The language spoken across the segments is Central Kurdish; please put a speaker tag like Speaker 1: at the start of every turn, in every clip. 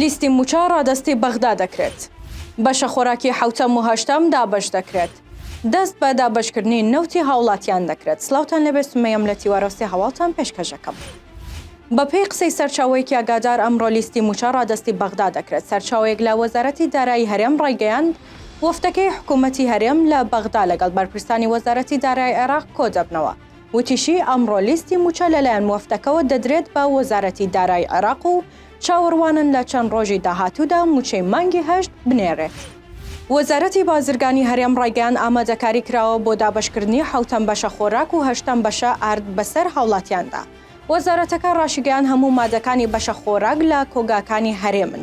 Speaker 1: لیستی موچە ڕادەستی بەغدا دەکرێت بەشە خۆراکی حوتەم و هەشتەم دابش دەکرێت دەست بە دابشکردنی نەوتی هاوڵاتیان دەکرێت سلااوان لەبێ سمەیەم لە تیوەرەستی هەواڵتان پێشکەشەکەم بەپێی قسەی سەرچاوەیەکی ئاگادار ئەمڕۆ لیستی موچە ڕادەستی بەغدا دەکرێت سەرچاوەیەک لە وەزارەتی دارایی هەرێم ڕایگەیاند وەفدەکەی حکوومەتی هەرێم لە بەغدا لەگەڵ بەرپرسانی وەزارەتی دارایی عێراق کۆدەبنەوە. وتیشی، ئەمڕۆ لیستی مووچە لەلایەن وەفدەکەوە دەدرێت بە وەزارەتی دارایی عێراق و چاوەڕوانن لە چەند ڕۆژی داهاتوودا مووچەی مانگی هەشت بنێرێت. وەزارەتی بازرگانی هەرێم ڕایگەیاند، ئامادەکاری کراوە بۆ دابەشکردنی حەوتەم بەشە خۆراک و هەشتەم بەشە ئارد بەسەر هاوڵاتیاندا. وەزارەتەکە ڕاشیگەیاند، هەموو مادەکانی بەشە خۆراک لە کۆگاکانی هەرێمن.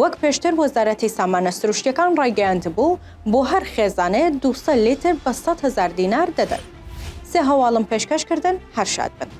Speaker 1: وەک پێشتر وەزارەتی سامانە سروشتیەکان ڕایگەیاندبوو، بۆ هەر خێزانێ دوو سەد لیتر بە سەد هەزار دینار دەدەن. سێ هەواڵم پێشکەش کردن، هەر شاد بن.